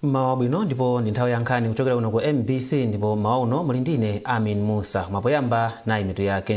mmawa bwino ndipo ndi nthawi ya nkhani kuchokera kuno ku mbc ndipo mmawa uno muli ndine amin musa mwapoyamba nayi mitu yake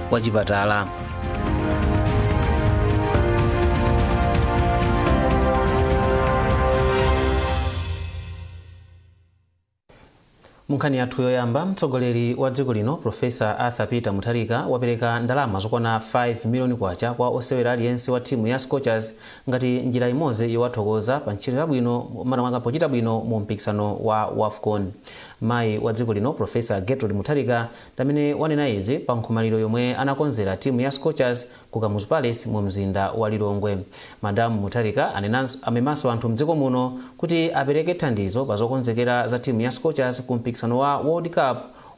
munkhani yathu yoyamba mtsogoleri wa dziko lino profesa arthur peter mutharika wapereka ndalama zokwana 5 miliyoni kwacha kwa osewera aliyense wa timu ya scorchers ngati njira imodzi yowathokoza pa ntchito yabwino makamaka pochita bwino mu mpikisano wa wafcon mayi wa dziko lino profesa gertrude mutharika ndi amene wanena izi pa nkhomaliro yomwe anakonzera timu ya Scorchers ku Kamuzu Palace mu mzinda wa Lilongwe. Madam Mutharika amemanso anthu mdziko muno kuti apereke thandizo pa zokonzekera za timu ya Scorchers ku mpikisano wa World Cup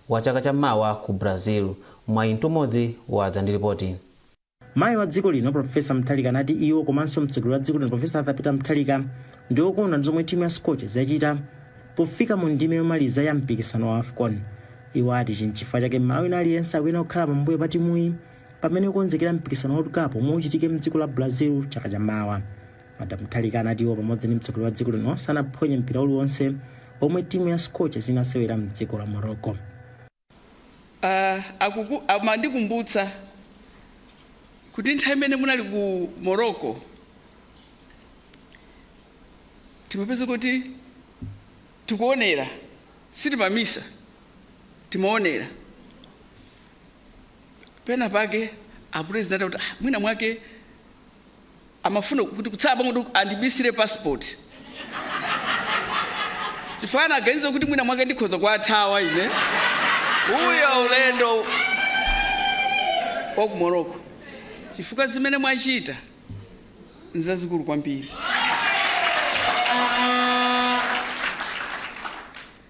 wa chaka cha mawa ku Brazil. Mwayi Mtumodzi wadza ndi lipoti. Mayi wa dziko lino Professor Mutharika anati iwo komanso mtsogoleri wa dziko lino Professor Arthur Peter Mutharika ndi okondwa ndi zomwe timu ya Scorchers yachita pofika mu ndime yomaliza ya mpikisano wa WAFCON. Iwo ati ichi n'chifukwa chake Mmalawi wina aliyense akuyenera kukhala pambuyo pa timuyi pamene ikukonzekera mpikisano wa World Cup womwe uchitike m'dziko la Brazil chaka cha mawa. Madam Mutharika anati iwo pamodzi ndi mtsogoleri wa dziko lino sanaphonye mpira uliwonse womwe timu ya Scorchers inasewera m'dziko la Morocco. Ah, akuku- amandikumbutsa kuti nthawi imene munali ku morocco timapeza kuti tikuonera sitimamisa timaonera pena pake apresident akuti ah, mwina mwake amafuna kuti kutsala pang'ono kuti andibisire passport chifukwa anaganiza kuti mwina mwake ndikhoza kuwathawa ine uyo ulendo wa ku morocco chifukwa zimene mwachita nzazikulu kwambiri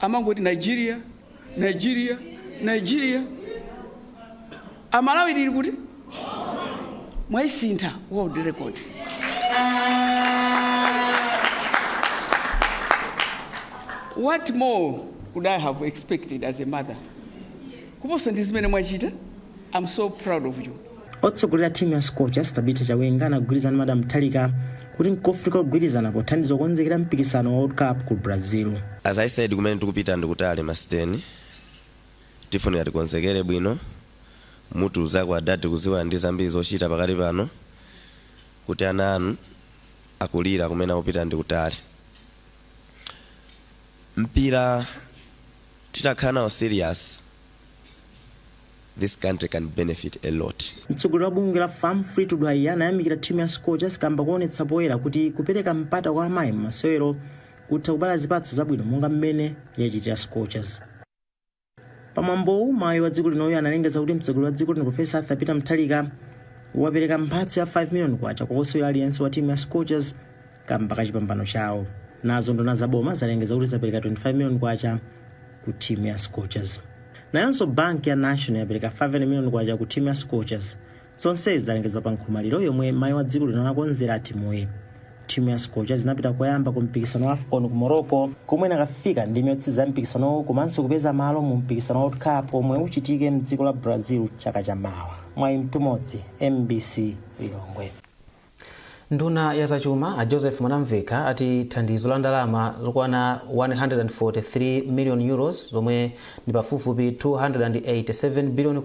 amangoti nigeria nigeria nigeria amalawi ali kuti mwaisintha world record what more would i have expected as a mother kuposa ndi zimene mwachita i'm so proud of you Otsogolera timu ya Scorchers Tabitha Chawinga anagwirizana ndi Madam Mutharika kuti nkofunikira kugwirizana pothandiza kukonzekera mpikisano wa World Cup ku Brazil. As I said kumene tikupita ndikutali Madam State tifunika tikonzekere bwino mutiuzireko adadi kudziwa ali ndi zambiri zochita pakati pano kuti ana anu akulira kumene akupita ndikutali mpira titakhala nawo serious this country can benefit a lot. Mtsogoleri wa bungwe la FAM Fleetwood Haiya anayamikira timu ya Scorchers kamba koonetsa poyera kuti kupereka mpata kwa amayi m'masewero kutha kubala zipatso zabwino monga mmene yachitira Scorchers. Pamwambowu mayi wa dziko linoyu analengeza kuti mtsogoleri wa dziko lino Profesa Arthur Peter Mutharika wapereka mphatso ya 5 million kwacha kwa osewera aliyense wa timu ya Scorchers kamba ka chipambano chawo nazo nduna za boma zalengeza kuti zapereka 25 million kwacha ku timu ya scorchers nayonso banki ya national yapereka 5 million kwacha ku timu ya scorchers zonsezi zalengezedwa pa nkhomaliro yomwe mayi wa dziko lino anakonzera timuyi timu ya scorchers inapita koyamba ku mpikisano wa afcon ku morocco komwe inakafika ndime yotsiriza ya mpikisanowo komanso kupeza malo mu mpikisano wa world cup omwe uchitike mdziko la brazil chaka cha mawa mwayi mtumodzi mbc lilongwe Nduna ya zachuma a Joseph Mwanamvekha ati thandizo la ndalama zokwana €143 million zomwe ndi pafupifupi K287 billion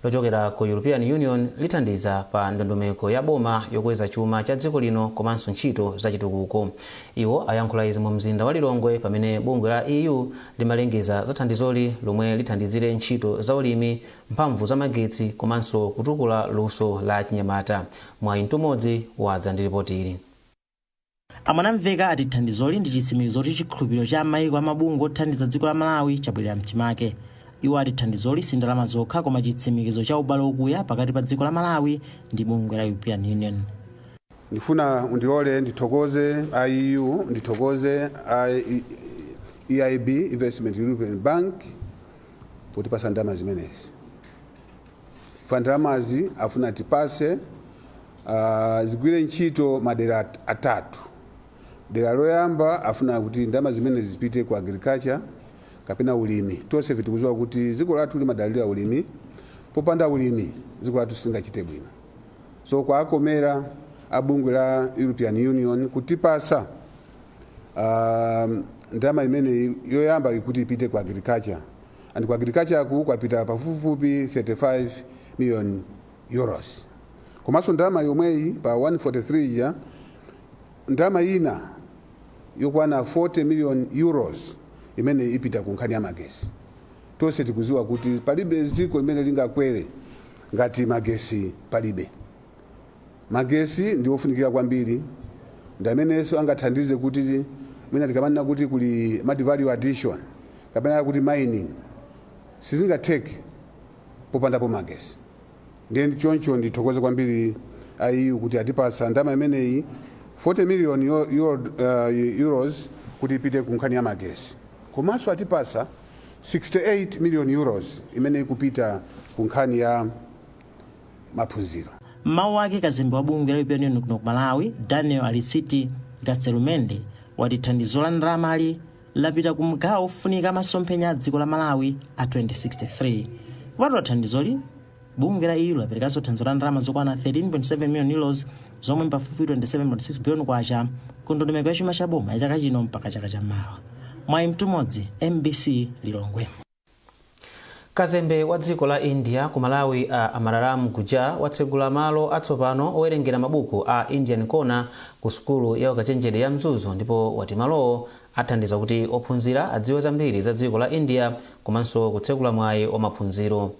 lochokera ku European Union lithandiza pa ndondomeko ya boma yokweza chuma cha dziko lino komanso ntchito za chitukuko. Iwo ayankhula izi mu mzinda wa Lilongwe pamene bungwe la EU limalengeza za thandizoli lomwe lithandizire ntchito za ulimi, mphamvu za magetsi komanso kutukula luso la achinyamata. Mwayi Mtumodzi wadza ndi lipoti ili. A Mwanamvekha ati thandizoli ndi chitsimikizo choti chikhulupiriro cha maiko ndi mabungwe othandiza dziko la Malawi chabwerera mchimake. Iwo ati thandizoli si ndalama zokha koma chitsimikizo cha ubale okuya pakati pa dziko la Malawi ndi bungwe la European Union. Ndifuna mundilole ndithokoze a EU, ndithokoze a EIB, Investment European Bank, potipatsa ndalama zimenezi chifukwa ndalamazi afuna atipatse uh, zigwire ntchito m'madera at- atatu dera loyamba afuna kuti ndalama zimenezi zipite ku agriculture kapena ulimi tonse tikudziwa kuti dziko lathu limadalira ulimi popanda ulimi dziko lathu silingachite bwino so kwawakomera a bungwe la european union kutipatsa um, ndalama imeneyi yoyamba ikuti ipite ku agriculture and ku agricultureku kwapita pafupifupi 35 million euros komanso ndalama yomweyi pa 143 ija ndalama ina yokwana 40 million euros imene ipita ku nkhani ya magesi tonse tikuziwa kuti palibe dziko limene lingakwere ngati magesi palibe Magetsi ndi ofunikira kwambiri, ndi amenenso angathandize kuti mwina tikamanena kuti kuli ma value addition kapena kuti mining, sizingatheke popandapo magetsi. Ndiye choncho ndithokoze kwambiri a EU kuti atipatsa ndalama imeneyi, 40 million Euros kuti ipite ku nkhani ya magetsi. Komanso atipatsa 68 million Euros imene ikupita ku nkhani ya. maphunziro. M'mawu ake kazembe wa bungwe la European Union kuno ku Malawi Daniel Aristi Gaztelumendi wati thandizo la ndalamali lapita ku magawo ofunika m'masomphenya a dziko la Malawi a 2063. Kupatula thandizoli bungwe la EU laperekanso thandizo la ndalama zokwana 13.7 million euros zomwe mpafupi 27.6 billion kwacha ku ndondomeko ya chuma cha boma ya chaka chino mpaka chaka cha mawa. Mwayi Mtumodzi MBC Lilongwe. Kazembe wa dziko la India ku Malawi a Amararam Gujjar watsegula malo atsopano owerengera mabuku a Indian Corner ku sukulu ya ukachenjede ya Mzuzu ndipo wati malowo athandiza kuti ophunzira adziwe zambiri za dziko la India komanso kutsegula mwayi wa maphunziro.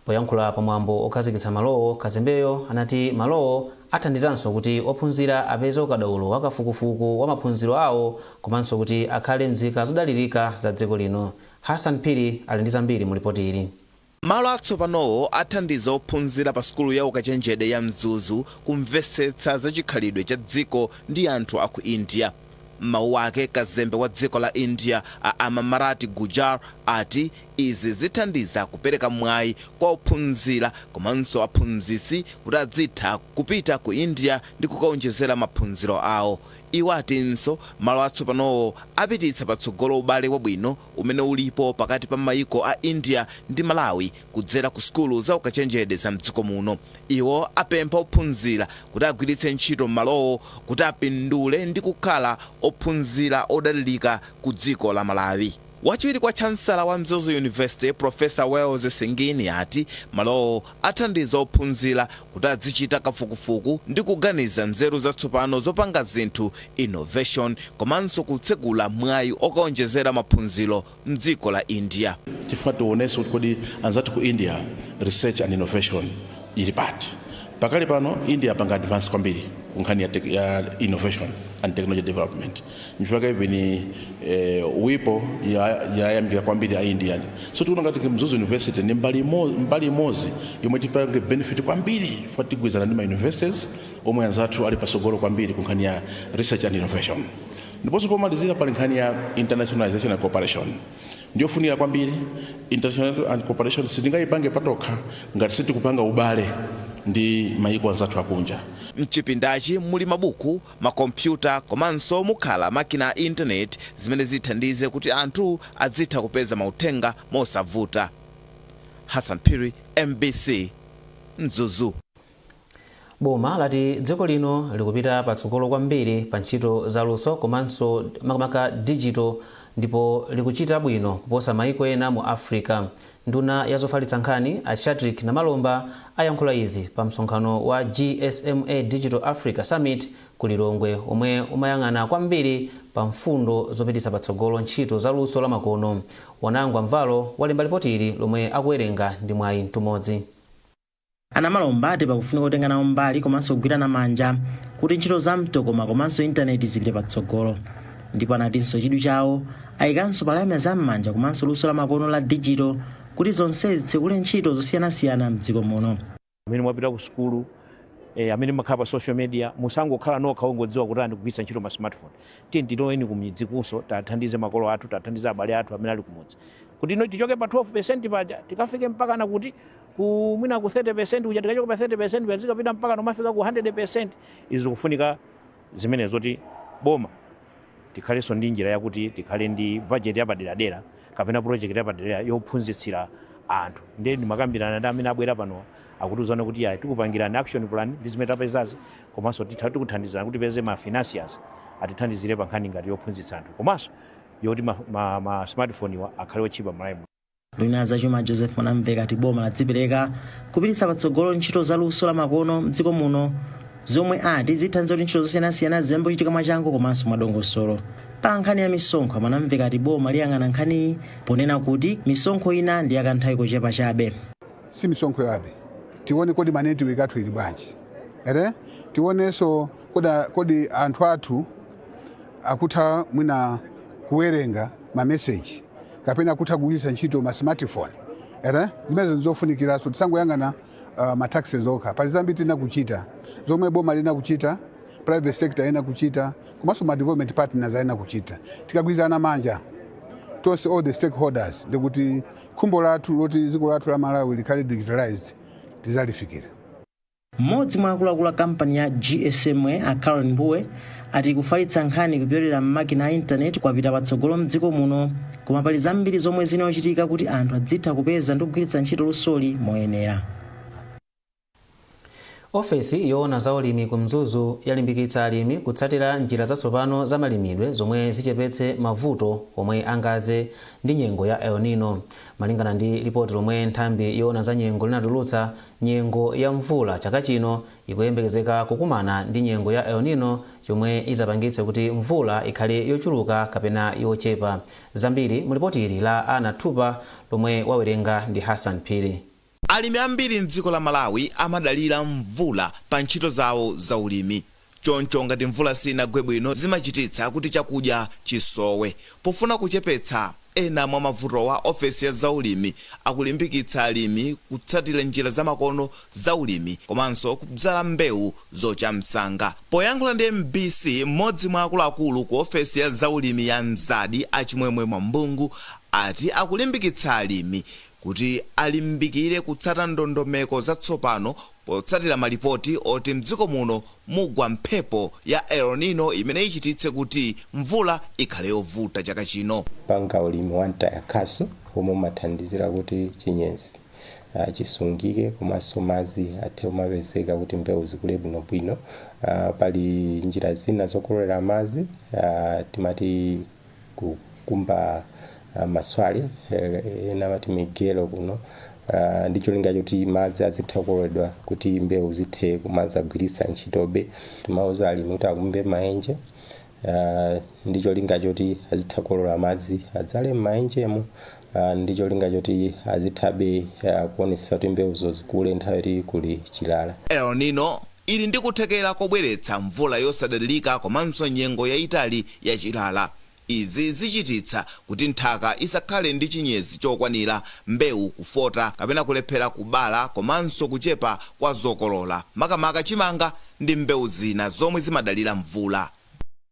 Poyankhula pa mwambo okhazikitsa malowo, kazembeyo anati malowo athandizanso kuti ophunzira apeze ukadaulo wa kafukufuku wa maphunziro awo komanso kuti akhale mzika zodalirika za dziko lino. Hassan Phiri ali ndi zambiri mu lipoti ili. Malo atsopanowo athandiza ophunzira pa sukulu ya ukachenjede ya Mzuzu kumvesetsa za chikhalidwe cha dziko ndi anthu a ku India. M'mawu ake, kazembe wa dziko la India a Amararam Gujjar ati izi zithandiza kupereka mwayi kwa ophunzira komanso aphunzitsi kuti adzitha kupita ku India ndi kukaonjezera maphunziro awo. Iwo atinso malo atsopanowo apititsa patsogolo ubale wabwino umene ulipo pakati pa maiko a India ndi Malawi kudzera ku sukulu za ukachenjede za mdziko muno. Iwo apempha ophunzira kuti agwiritse ntchito malowo kuti apindule ndi kukhala ophunzira odalirika ku dziko la Malawi. Wachiwiri kwa chancellor wa Mzuzu University Professor Wales Singini ati malowo athandiza ophunzira kuti adzichita kafukufuku ndi kuganiza nzeru zatsopano zopanga zinthu, innovation, komanso kutsegula mwayi okaonjezera maphunziro mdziko la India. Tifuna tiwonese kuti kodi anzathu ku India research and innovation ili pati. Pakali pano India yapanga advance kwambiri ku nkhani ya innovation and technology development. nchifukwa even eh, WIPO yayamikira kwambiri a India so tikuona ngati mzuzu university ndi mbali imodzi yomwe tipange benefit kwambiri chifukwa tigwirizana ndi ma universities omwe anzathu ali pasogolo kwambiri ku nkhani ya research and innovation ndiponso pomalizira pali nkhani ya internationalization and cooperation ndiyofunika kwambiri international and cooperation sitingayipange patokha ngati sitikupanga ubale ndi mayiko anzathu akunja mchipindachi muli mabuku makompyuta komanso mukhala makina a internet zimene zithandize kuti anthu adzitha kupeza mauthenga mosavuta. Hassan Phiri, mbc, Mzuzu. Boma lati dziko lino likupita patsogolo kwambiri pa ntchito za luso komanso makamaka digital ndipo likuchita bwino kuposa maiko ena mu Africa. Nduna ya zofalitsa nkhani, a Shadric Namalomba, ayankhula izi pa msonkhano wa GSMA Digital Africa Summit ku Lilongwe omwe umayang'ana kwambiri pa mfundo zopititsa patsogolo ntchito za luso la makono. Wanangwa Mvalo walemba lipotili lomwe akuwerenga ndi Mwayi Mtumodzi. A Namalomba ati pakufunika kutenga nawo mbali komanso kugwirana manja kuti ntchito za mtokoma komanso intaneti zipite patsogolo ndipo anatinso chidwi chawo ayikanso pa lamya za m'manja komanso luso la makono la digital kuti zonsezi zitsekule ntchito zosiyanasiyana mdziko muno. amene mwapita ku sukulu eh, amene mumakhala pa social media musangokhala nokha ongodziwa kuti ndikugwiritsa ntchito ma smartphone tiye tiyeni kumidzi kunso tathandize makolo athu tathandize abale athu amene ali kumudzi kuti ino tichoke pa 12% paja tikafike mpakana kuti ku mwina ku 30% kuja tikachoka pa 30% kuja zikapita mpaka nomafika ku 100% izi zikufunika zimene zoti boma tikhalenso ndi njira yakuti tikhale ndi budget yapaderadera kapena project yapaderadera yophunzitsira anthu ndiye ndimakambirana ndi amene abwera pano akutiuzana kuti ayi tikupangirani action plan ndi zimene tapezazi komanso titha tikuthandizana kuti tipeze ma financiers atithandizire pa nkhani ngati yophunzitsa anthu komanso yoti ma, ma, ma smartphone-wa akhale otchipa m'Malawi muno. nduna ya zachuma joseph mwanamveka ati boma ladzipereka kupititsa patsogolo ntchito za luso la makono mdziko muno zomwe ati zithandiza kuti ntchito zosiyanasiyana ziyambe kuchitika mwachangu komanso mwadongosolo pa nkhani ya misonkho a mwanamveka ati boma liyang'ana nkhaniyi ponena kuti misonkho ina ndi yakanthawi kochepa chabe si misonkho chabe tione kodi manetiweki athu ili bwanji ere tionenso kodi, kodi anthu athu akutha mwina kuwerenga mameseji kapena kutha kugwiritsa ntchito ma smartphone ere zimenezo ndizofunikiranso tisangoyang'ana uh, ma taxes okha pali zambiri tiyenera kuchita zomwe boma liyenera kuchita private sector ayenera kuchita komanso ma development partners ayenera kuchita tikagwirana manja tonse all the stakeholders ndikuti khumbo lathu loti dziko lathu la malawi likhale digitalized tizalifikira Mmodzi mwa akuluakulu a kampani ya GSMA, a Caroline Mbugua, ati kufalitsa nkhani kupyolera m'makina a intaneti kwapita patsogolo m'dziko muno, koma pali zambiri zomwe ziyenera kuchitika kuti anthu adzitha kupeza ndi kugwiritsa ntchito lusoli moyenera. ofesi yoona za ulimi ku mzuzu yalimbikitsa alimi kutsatira njira zatsopano za malimidwe zomwe zichepetse mavuto omwe angadze ndi nyengo ya el nino malingana ndi lipoti lomwe nthambi yoona za nyengo linatulutsa Nyengo ya mvula chaka chino ikuyembekezeka kukumana ndi nyengo ya El Nino yomwe idzapangitse kuti mvula ikhale yochuluka kapena yochepa. Zambiri mu lipoti ili la Anna Thupa lomwe wawerenga ndi Hassan Phiri. Alimi ambiri m'dziko la Malawi amadalira mvula pa ntchito zawo za ulimi. Choncho ngati mvula sinagwe bwino zimachititsa kuti chakudya chisowe. Pofuna kuchepetsa ena mwa mavutowa, ofesi ya zaulimi akulimbikitsa alimi kutsatira njira zamakono za ulimi komanso kudzala mbewu zocha msanga. Poyankhula ndi mbc, m'modzi mwa akuluakulu ku ofesi ya zaulimi ya Mzadd a Chimwemwe Mwambungu ati akulimbikitsa alimi kuti alimbikire kutsata ndondomeko zatsopano Potsatira malipoti oti m'dziko muno mugwa mphepo ya El Nino imene ichititse kuti mvula ikhale yovuta chaka chino. Kupanga ulimi wa mtaya khasu omwe umathandizira kuti chinyezi chisungike komanso madzi athe kumapezeka kuti mbewu zikule bwinobwino. Pali njira zina zokololera madzi timati. kukumba ah, maswale eh, ena amati migelo kuno ah, ndi cholinga choti madzi azitha kukololedwa kuti mbewu zithe kumazagwiritsa ntchitobe timauza alimi kuti akumbe maenje ah, ndi cholinga choti azitha kukolola madzi adzale m'maenjemo ndi cholinga choti azithabe kuonetsetsa kuti mbewuzo zikule nthawi yoti kuli chilala. El Nino ili ndi kuthekera kobweretsa mvula yosadalirika komanso nyengo yayitali ya chilala. Izi zichititsa kuti nthaka isakhale ndi chinyezi chokwanira, mbewu kufota kapena kulephera kubala komanso kuchepa kwa zokolola, makamaka chimanga ndi mbewu zina zomwe zimadalira mvula.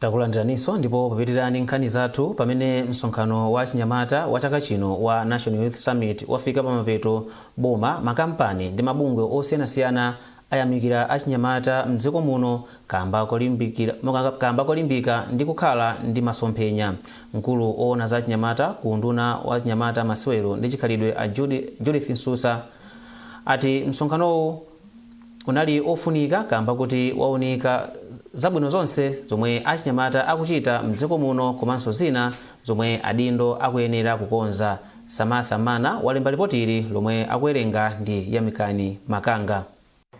Takulandiraninso ndipo papitirani nkhani zathu pamene msonkhano wa achinyamata wa chaka chino wa National Youth Summit wafika pamapeto, Boma, makampani ndi mabungwe osiyanasiyana ayamikira achinyamata m'dziko muno kaamba kolimbika ndi kukhala ndi masomphenya. Mkulu owona za achinyamata ku unduna wa achinyamata, masewero ndi chikhalidwe a Judith Msusa ati msonkhanowu. unali ofunika kamba kuti waunika zabwino zonse zomwe achinyamata akuchita mdziko muno komanso zina zomwe adindo akuyenera kukonza, Samantha Mana walemba lipoti ili lomwe akuwerenga ndi Yamikani Makanga.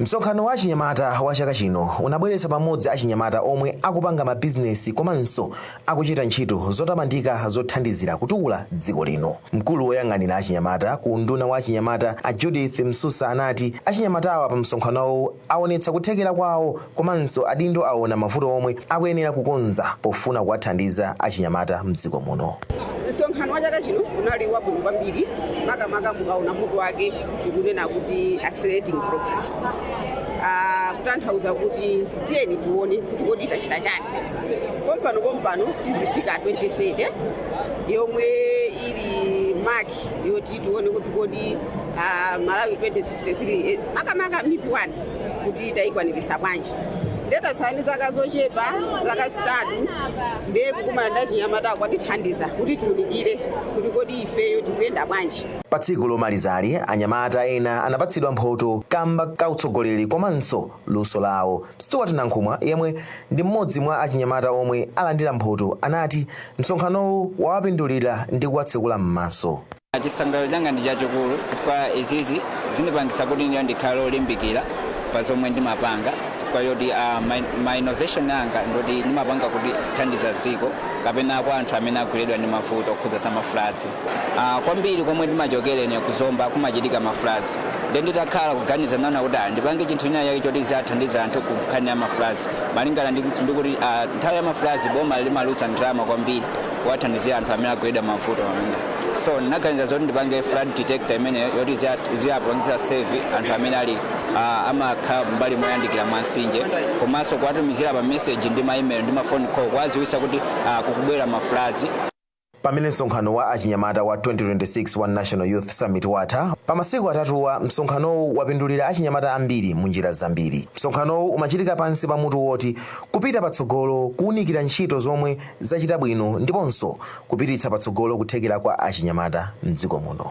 Msonkhano wa achinyamata wa chaka chino unabweretsa pamodzi achinyamata omwe akupanga mabizinesi komanso akuchita ntchito zotamandika zothandizira kutukula dziko lino. Mkulu woyang'anira achinyamata ku unduna wa achinyamata a Judith Msusa anati achinyamatawa pa msonkhanowu awonetsa kuthekera kwawo komanso adindo awona mavuto omwe akuyenera kukonza pofuna kuwathandiza achinyamata mdziko muno. Msonkhano wa chaka chino unali wabwino kwambiri makamaka mukaona mutu wake tikunena kuti accelerating progress, ah, kutanthauza kuti tiyeni tione kuti kodi tachita chani. pompano pompano tizifika 2030 yomwe ili maki yoti tione kuti kodi ah, malawi 2063 eh, makamaka MIP 1 kuti tayikwanirisa bwanji nde tatsala ndi zaka zochepa zaka zitatu ndiye kukumana ndi achinyamatawa kwatithandiza kuti tiunikire kuti kodi ifeyo tikuyenda bwanji pa tsiku lomalizali anyamata ena anapatsidwa mphoto kamba ka utsogoleri komanso luso lawo. Stuart Nankhumwa, yemwe ndi mmodzi mwa achinyamata omwe alandira mphoto, anati msonkhanowu wawapindulira ndi kuwatsekula m'maso. Chisangalalo changa ndi chachikulu chifukwa izizi zindipangitsa kuti ineyo ndikhale olimbikira pa zomwe ndimapanga chifukwa choti ma innovation anga ndioti ndimapanga kuthandiza dziko kapena kwa anthu amene agweredwa ndi mavuto okhudza za ma floods. Ah kwambiri komwe ndimachokera ine ku Zomba kumachitika ma floods. Ndiye nditakhala kuganiza ndinaona kuti ah ndipange chinthu china chake choti chidzathandiza anthu ku nkhani ya ma floods. Malingana ndi kuti ah nthawi ya ma floods boma limaluza ndalama kwambiri kuwathandizira anthu amene agweredwa mavuto amene. So ndinaganiza zoti ndipange flood detector imeneyo yoti idzia- idziapangitsa save anthu amene ali ah, amakhala mbali moyandikira mwa mtsinje komanso kuwatumizira ma message ndi ma email ndi ma phone call kuwadziwitsa kuti ah, kukubwera ma floods. Pamene msonkhano wa achinyamata wa 2026 wa National Youth Summit watha, pa masiku atatuwa msonkhanowu wapindulira achinyamata ambiri munjira zambiri. Msonkhanowu umachitika pansi pa mutu woti Kupita Patsogolo, kuunikira ntchito zomwe zachita bwino ndiponso kupititsa patsogolo kuthekera kwa achinyamata m'dziko muno.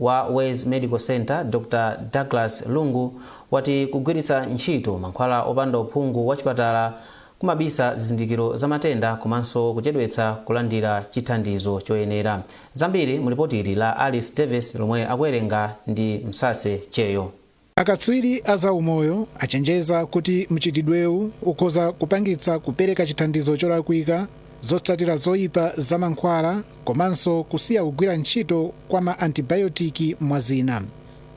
wa Wezi Medical Centre, Dr Douglas Lungu, wati kugwiritsa ntchito mankhwala opanda uphungu wa chipatala kumabisa zizindikiro za matenda komanso kuchedwetsa kulandira chithandizo choyenera. Zambiri mu lipotili la Alice Davis lomwe akuwerenga ndi Msase Cheyo. Akatswiri a zaumoyo achenjeza kuti mchitidwewu ukhoza kupangitsa kupereka chithandizo cholakwika, zotsatira zoipa za mankhwala, komanso kusiya kugwira ntchito kwa ma antibayotiki mwa zina.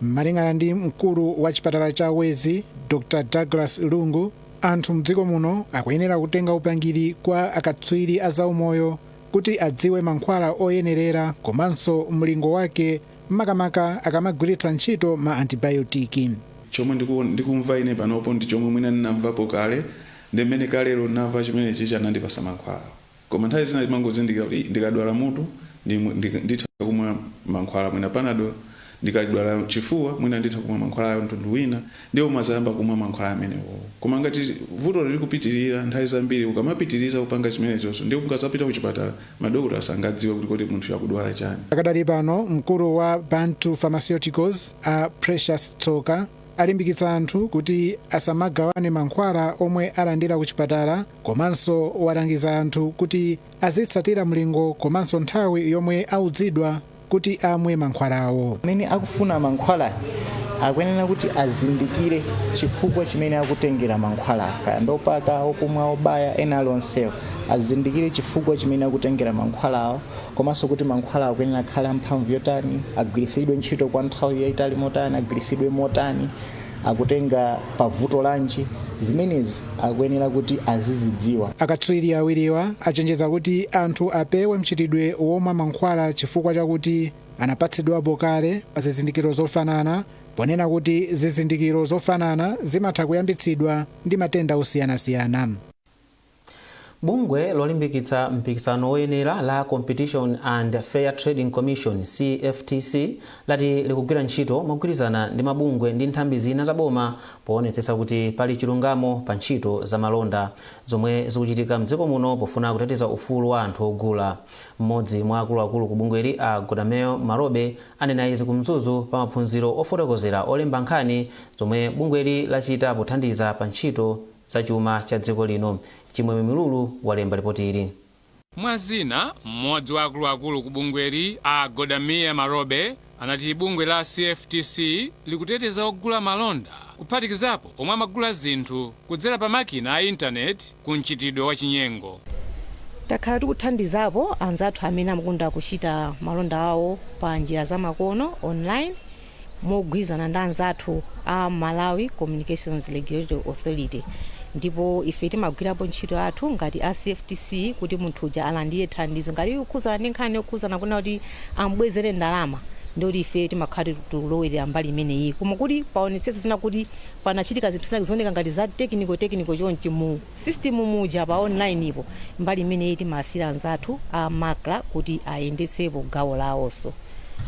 Malingana ndi mkulu wa chipatala cha Wezi, Dr Douglas Lungu, anthu mdziko muno akuyenera kutenga upangiri kwa akatswiri a zaumoyo kuti adziwe mankhwala oyenerera komanso mlingo wake makamaka akamagwiritsa ntchito ma antibayotiki. Chomwe ndikumva ine panopo ndi chomwe mwina ndinamvapo kale ndiye mmene kalelo ndinamva chimene chichi anandipasa mankhwalawo. Koma nthawi zina timangozindikira kuti ndikadwala mutu nditha kumwa mankhwala mwina panadol, ndikadwala chifuwa mwina nditha kumwa mankhwala a mtundu wina, ndiye umazayamba kumwa mankhwala amenewo. Koma ngati vuto lili kupitirira, nthawi zambiri ukamapitiriza kupanga chimenechocho ndiye mukadzapita kuchipatala, madokotala sangadziwe kuti kodi munthuyu akudwala chani. Pakadali pano, mkulu wa Bantu Pharmaceuticals, a Precious Tsoka, alimbikitsa anthu kuti asamagawane mankhwala omwe alandira kuchipatala komanso walangiza anthu kuti azitsatira mlingo komanso nthawi yomwe auzidwa kuti amwe mankhwalawo. Amene akufuna mankhwala akuyenera kuti azindikire chifukwa chimene akutengera mankhwala, kaya ndi opaka, okumwa, obaya, ena ali onsewo. Azindikire chifukwa chimene akutengera mankhwalawo komanso kuti mankhwalawo akuyenera akhale amphamvu yotani, agwiritsidwe ntchito kwa nthawi yaitali motani, agwiritsidwe motani. akutenga pa vuto lanji zimenezi akuyenera kuti azizidziwa Akatswiri awiriwa achenjeza kuti anthu apewe mchitidwe womwa mankhwala chifukwa chakuti anapatsidwapo kale pa zizindikiro zofanana ponena kuti zizindikiro zofanana zimatha kuyambitsidwa ndi matenda osiyanasiyana. Bungwe lolimbikitsa mpikisano woyenera la Competition and Fair Trading Commission, CFTC, lati likugwira ntchito mogwirizana ndi mabungwe ndi nthambi zina za boma poonetsetsa kuti pali chilungamo pa ntchito za malonda zomwe zikuchitika mdziko muno pofuna kuteteza ufulu wa anthu ogula. Mmodzi mwa akuluakulu ku bungweli a Goodamel Malobe anena izi ku Mzuzu pa maphunziro ofotokozera olemba nkhani zomwe bungweli lachita pothandiza pa ntchito za chuma cha dziko lino, Chimwemwe Milulu, walemba lipoti ili. Mwa zina, m'modzi wa akuluakulu ku bungweli, a Godameer Marobe, anati bungwe la CFTC likuteteza ogula malonda, kuphatikizapo omwe amagula zinthu kudzera pa makina a internet, ku mchitidwe wa chinyengo. Takhala tikuthandizapo anzathu amene amakonda kuchita malonda awo pa njira za makono, online, mogwirizana ndi anzathu a Malawi Communications Regulatory Authority ndipo ife timagwirapo ntchito yathu ngati a CFTC kuti munthu uja alandire thandizo ngati zikukhuzana ndi nkhani yokhuzana kunena kuti amubwezere ndalama ndi kuti ife timakhala tikulowerera mbali imeneyi koma kuti paoneke kuti mwina kuti panachitika zinthu zina zikuoneka ngati za technical technical chonchi mu system muja pa online po mbali imeneyi timawasiira anzathu a MACRA kuti ayendetsepo gawo lawonso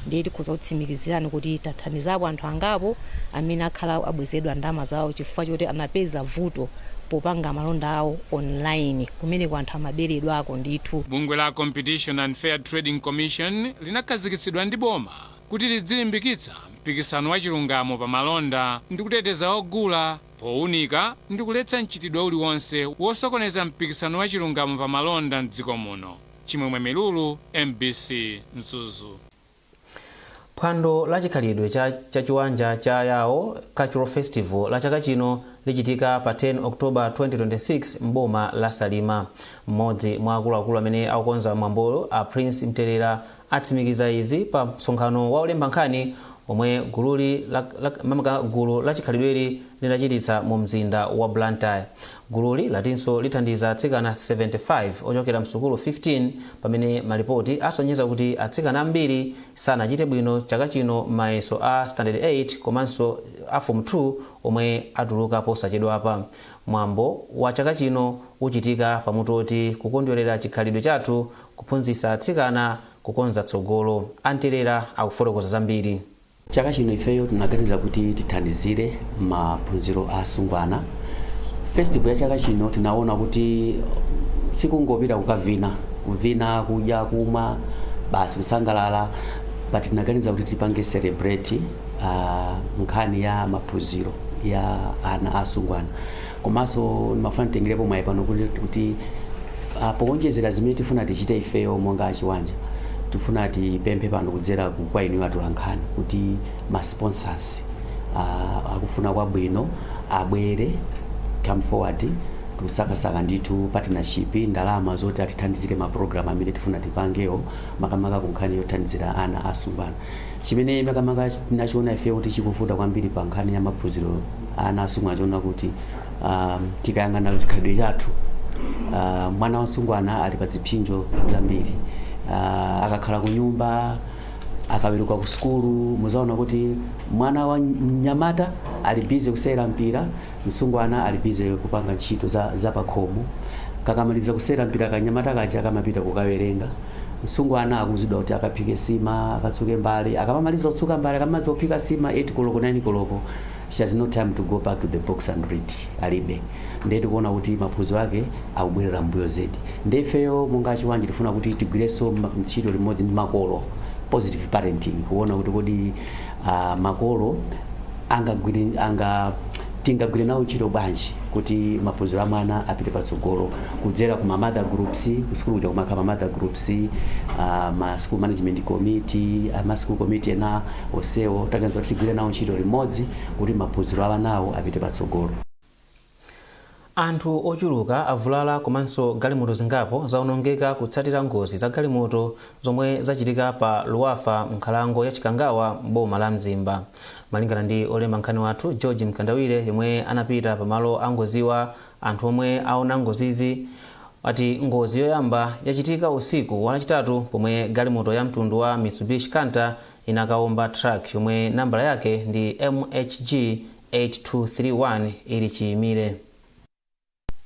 ndiye tikhoza kutsimikizirani kuti tathandizapo anthu angapo amene akhala abwezedwa ndalama zawo chifukwa choti anapeza vuto popanga malonda awo online kumeneko anthu amaberedwako ndithu. Bungwe la Competition and Fair Trading Commission linakhazikitsidwa ndi boma kuti lidzilimbikitsa mpikisano wachilungamo pa malonda ndikuteteza ogula, powunika ndi kuletsa mchitidwe uliwonse wosokoneza mpikisano wa chilungamo pa malonda m'dziko muno. Chimwemwe Milulu, MBC, Mzuzu. Phwando la chikhalidwe cha Chiwanja cha Yao Cultural Festival la chaka chino lichitika pa 10 October 2026 m'boma la Salima. M'modzi mwa akuluakulu amene akukonza mwambowu a Prince Mterera atsimikiza izi pa msonkhano wa olemba nkhani omwe gululi makamaka gulu la chikhalidweli linachititsa mu mzinda wa Blantyre. Gululi latinso lithandiza atsikana 75 ochokera msukulu 15 pamene malipoti asonyeza kuti atsikana ambiri sanachite bwino chaka chino m'mayeso a standard 8 komanso a form 2 omwe atuluka posachedwapa. Mwambo wa chaka chino uchitika pa mutu oti kukondwerera chikhalidwe chathu Kuphunzitsa atsikana kukonza tsogolo. A Mterera akufotokoza zambiri. Chaka chino ifeyo tinaganiza kuti tithandizire maphunziro a asungwana. Festival ya chaka chino tinawona kuti sikungopita kukavina, kuvina, kudya, kumwa basi kusangalala but tinaganiza kuti tipange celebrate nkhani ya maphunziro ya ana a asungwana. Komanso ndimafuna nditengerepo mwayi pano kuti, kuti ah, powonjezera zimene tifuna tichite ifeyo monga achiwanja tifuna tipemphe pano kudzera ku- kwa inuyo atolankhani kuti ma sponsors ah, akufuna kwabwino abwere come forward tikusakasaka ndithu partnership ndalama zoti atithandizire ma program amene tifuna tipangewo makamaka ku nkhani yothandizira ana asungwana chimene makamaka tinachiona ifeyo kuti chikuvuta kwambiri pa nkhani ya maphunziro ana asungwana timaona kuti ah, tikayang'ana chikhalidwe chathu ah, mwana wasungwana ali pa zipsinjo zambiri Ah, akakhala ku nyumba akaweruka ku sukulu muzaona kuti mwana wa mnyamata ali busy kusewera mpira msungwana ali busy kupanga ntchito za, za pakhomo kakamaliza kusewera mpira kanyamata kaja akamapita kukawerenga msungwana akuuzidwa kuti akaphike sima akatsuke mbale akamamaliza kutsuka mbale akamaliza kuphika sima 8 koloko 9 koloko she has no time to go back to the books and read alibe ndiye tikuona kuti maphunziro ake akubwerera mbuyo zedi ndiye ifeyo monga achiwanje tifuna kuti tigwirenso ma- ntchito limodzi ndi makolo positive parenting kuona kuti kodi ah, makolo angagwire anga tingagwire nawo ntchito bwanji kuti maphunziro a mwana apite patsogolo kudzera ku ma mother groups kusukulu kuja kumakhala ma mother groups uh, ma school management committee uh, ma school committee ena onsewo taganiza kuti tigwire nawo ntchito limodzi kuti maphunziro a anawo apite patsogolo. Anthu ochuluka avulala komanso galimoto zingapo zaonongeka kutsatira ngozi za galimoto zomwe zachitika pa Luwafwa m'nkhalango ya Chikangawa m'boma la Mzimba. Malingana ndi olemba nkhani wathu George Mkandawire yemwe anapita pa malo angoziwa, Anthu omwe aona ngozizi ati ngozi yoyamba yachitika usiku wa lachitatu pomwe galimoto ya mtundu wa Mitsubishi Canter inakaomba truck yomwe nambala yake ndi MHG 8231 ili chiimire.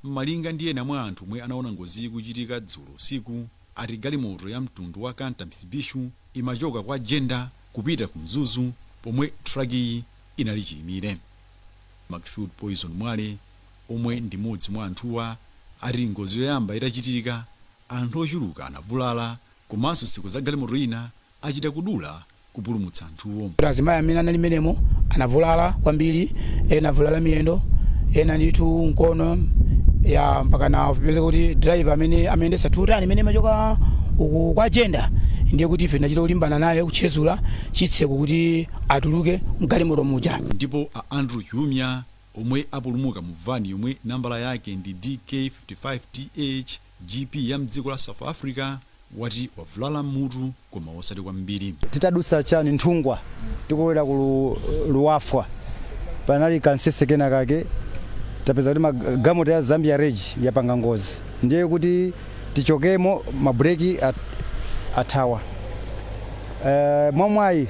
Malinga ndi ena mwa anthu omwe anaona ngoziyi ikuchitika dzulo usiku ati galimoto ya mtundu wa Canter Mitsubishi imachoka kwa Jenda kupita ku Mzuzu pomwe truck-yi inali chiimire. Macfield Poison Mwale. omwe ndi mmodzi mwa anthuwa ati ngozi yoyamba itachitika anthu ochuluka anavulala komanso zitseko za galimoto ina achita kudula kupulumutsa anthuwo. Azimayi amene anali mmenemo anavulala kwambiri ena avulala miyendo ena ndithu mkono ya mpaka anapezeka kuti driver amene amayendesa tutani imene imachoka uku kwa Jenda ndiye kuti ife tinachita kulimbana naye kutchezula chitseko kuti atuluke mgalimoto muja. Ndipo a Andrew Chiumia Omwe apulumuka mu van yomwe nambala yake ndi DK55 TH, GP ya mdziko la South Africa wati wavulala m'mutu koma osati kwambiri. Titadutsa chani Nthungwa tikulowera ku Luwafwa panali kansese kena kake tapeza kuti magalimoto ya Zambia Regi yapanga ngozi ndiye kuti. tichokemo mabrake at, athawa uh, mwamwayi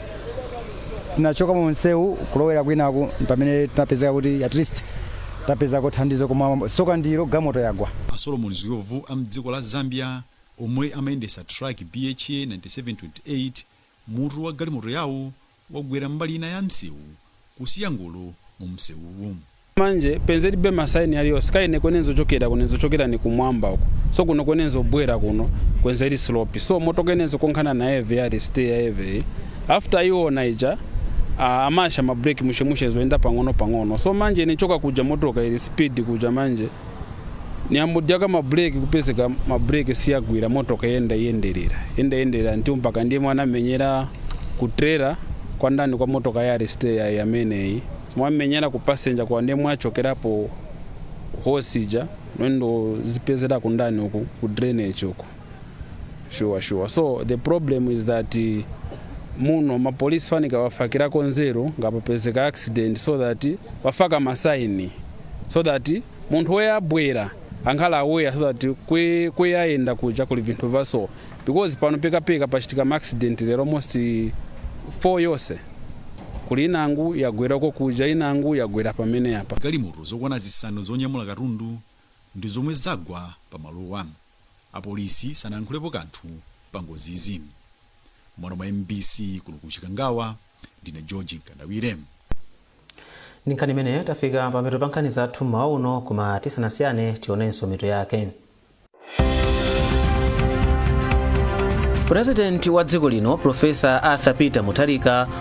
tinachoka mu msewu kulowera kwinaku pamene tinapezeka kuti at least tapezako thandizo koma soka ndilo galimoto yagwa a solomon ziyovu a mdziko la zambia omwe amayendesa truck bha 9728 mutu wa galimoto yawo wagwera mbali ina ya msewu kusiya ngolo mu msewuwu. Manje penzelibe ma sign yaliyose kaine kwene nzochokera kune nzochokera ni kumwamba uko so kuno kwene nzobwera kuno kwenzeli slope so motoka ine nzokonkhana na eve yali stay ya eve iyi after iona ija a amasha ma break mushe mushe zoenda pang'ono pang'ono so manje ine choka kuja motoka ili speed kuja manje niyambodyaka ma brake kupezeka ma brake siyagwira motoka yenda yenderera yenda yenderera nti mpaka ndiye mwamenyera ku trailer kwa ndani kwa motoka ya reste ya yameneyi mwamenyera ku passenger kwa ndiye mwachokerapo hosija mwendo zipezera kundani uku ku drainage uku sure sure so the problem is that eh, muno mapolisi fanika wafakirako nzeru ngapapezeka accident so that wafaka masaini so that munthu weye abwera ankhala aware so that kwe- kwe ayenda kuja kuli vinthu vaso because pano pekapeka pachitika maaccident lero almost eh, four yonse kuli inangu yagwerako kuja inangu yagwera pamene apa galimoto zokwana zisanu zonyamula katundu ndi zomwe zagwa pa malowa Apolisi sanankhulepo kanthu pa ngozizi. M'malo mwa mbc kuno ku Chikangawa, ndine George Mkandawire. Ndi nkhani imeneyo tafika pamapeto pa nkhani zathu m'mawa uno, koma tisanasiyane tionenso mitu yake. Purezidenti wa dziko lino Professor Arthur Peter Mutharika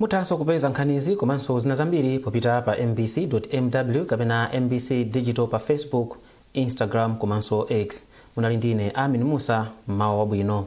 muthanso kupeza nkhanizi komanso zina zambiri popita pa mbc mw kapena mbc digital pa facebook instagram komanso x munali ndi ine amin musa mmawa wabwino